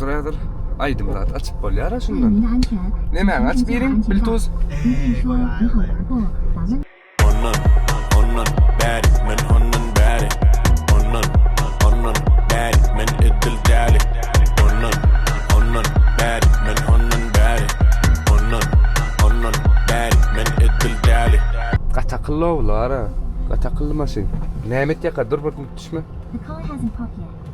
Duraydyr. Aydym zat açıp bolýar şundan. Nemäň açyp beriň? Biltuz. Ondan, ondan bäri men ondan bäri. Ondan, ondan bäri men edil däli. Ondan, ondan bäri men ondan bäri. Ondan, ondan bäri men edil däli. Gaty akylly oglanlar ha. Gaty akylly maşyn. Näme etýärka dur bir düşme.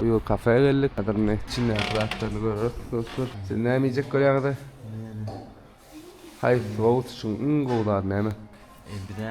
Bu ýyl kafä geldik. Häzir indi içindäki zatlaryny göreris dostlar. Siz näme iýjek görýäňiz-ä? Haýsy wagt üçin iň gowy zat näme? Bizä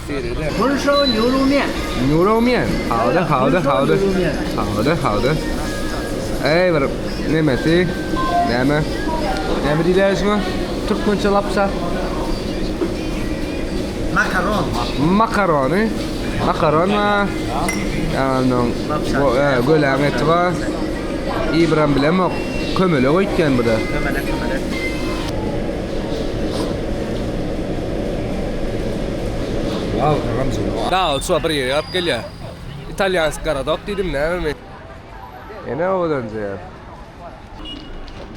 Gülşaw Nurumýan. Nurumýan. Howda, howda, howda. Howda, howda. Eý bir nemesi, näme? Näme diýilýär şuňa? Türkmençe lapsa. Makaron. Makarony. Makaron we ýanyň göläň eti bar. Ibram bilemok. Kömelek öýtýän bu-da. Kömelek, kömelek. Dagly çuwa bir ýere ýaryp gelýär. Italýansk garadok diýdim näme men. Ene owadanjy ýa.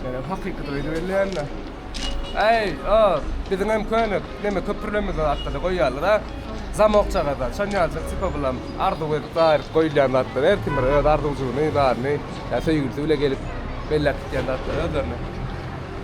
Ýöne hakyky toýdy belleýän-de. Äý, o, biziň hem köne neme köprülerimiz bar arkada goýýarlar, a? Zamokçagaz-a, şon ýaljak tipa bulam arzuw edip aýryp goýulýan zatlar, her kim bir öz arzuwjygyny, zadyny, ýa söýgülisi bile gelip belläp gitýän zatlar özlerine.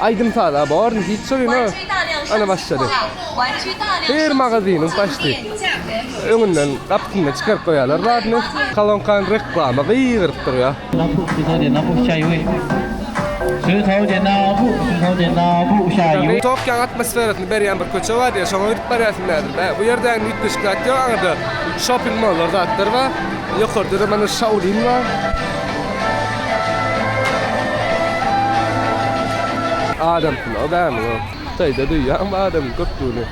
Aýdym saza born hiç söýme ana başlady. Her magazynyň başdy. Öňünden gapysynda çykaryp goýarlar zadyny. Kolonkany reklama gygyryp durýa. Tokýoň atmosferasyny berýän bir köçe bar diýýä şoňa gidip barýarsyň bägül bä bu ýerde ägni üýtgeşik zat ýok aňyrda şoping mollar zatlar bar ýokarda-da mana şaolin bar. Adam pula bämi yok. Kıtayda duyyan adam köptüğünü.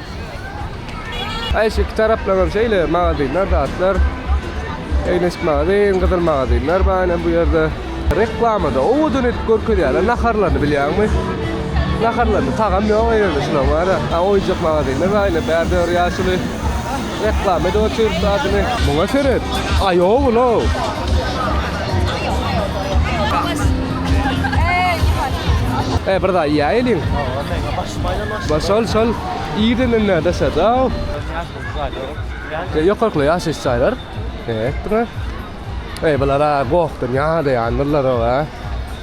Ay şu iki taraflanan şeyle magazinler zatlar. Egneş magazin, kızıl magazinler bana bu yerde. Reklamada o odun edip görkezýärler naharlaryny bilýärmi? Naharlaryny tagam ýok ýerde şular bar. Ha oýunjak magazinler bar ýene bärde ýaşuly. Reklama edip oturýarys adyny. Muňa seret. Aýow ulow. E bir da ýa eliň. Baş şol şol ýerinden näde şada. Ýokarkly ýaşaýyş jaýlar. Etme. E bulara gohdan ýa da ýandylar owa.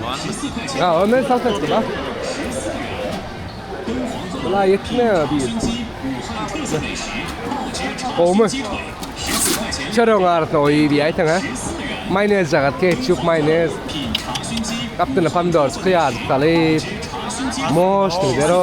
Ýa, men salsa etdim, a. Bula ýetmeýär diýip. Gowmy? Çöregiň arasyna goýup iýäýseň, ha? Maýonez jagat, ketçup, maýonez. Gapdyna pomidor, kyýar salyp. Moş, zero.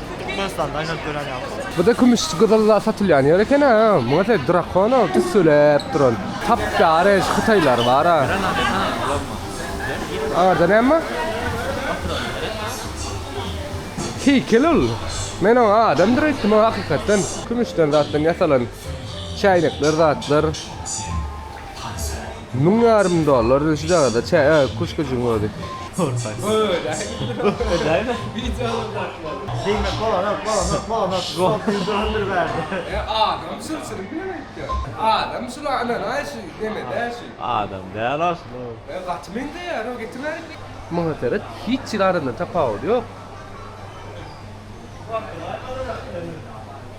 Türkmenistanda aýnalyp ýören ýaly. Buda kümüş gyzylla satylýan ýer eken a muňa se drakono tüsseläp duran tapdara eş hytaýlar bar a. Arda näme? Heýkel ol. Men oňa adamdyr etdim hakykatdan. Kümüşden zatdan ýasalan çäýnekler zatlar. Müň ýarym dollar şu çagada çä küşküjiň özi. Maňa seret hiç hili aradan tapawudy ýok.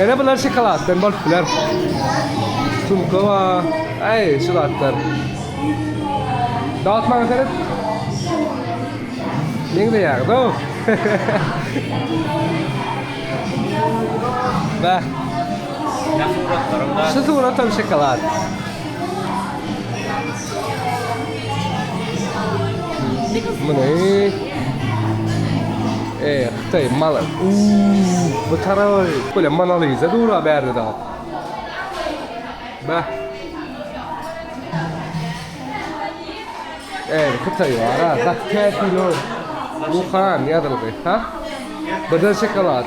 Ene bular şokoladdan bolup biler. Sumka bar. Ay şu zatlar. Dağıt bana seret. Ne güzel ya. Doğru. Bak. Şu surat hem şokolad. Bu ne? Eee. Daýy mala uuu bu taraby. Bolýa Mona Lisa dur a bärde dagy. Bäh. Eee hytaý bar a gaty täsirli ol. Wuhan ýazylgy ha. Birden şokolad.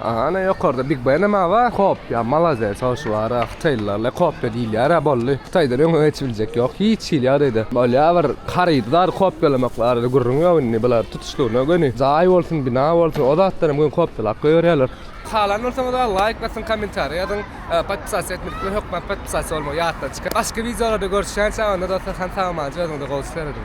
Ana ýokarda big benem aba kopýa malazes hoşwara hytaýlylarla kopýa diýilýärä bolly hytaýdan öňe geçip biljek ýok hiç hili ýagdaýda bolýa bir harydy zady kopýalamak barada gürrüň ýok indi bular tutuşlygyna göni jaý bolsun bina bolsun o zatlaram göni kopýalap goýberýärler. Halan bolsaňyza laýk basyň kommentariýa ýazyň podpisasiýa etmedikler hökman podpisasiýa bolmagy ýatdan çykaryň başga wideolarda görüşýänçä onda dostlar han salamajyk özüňize gowy seredin.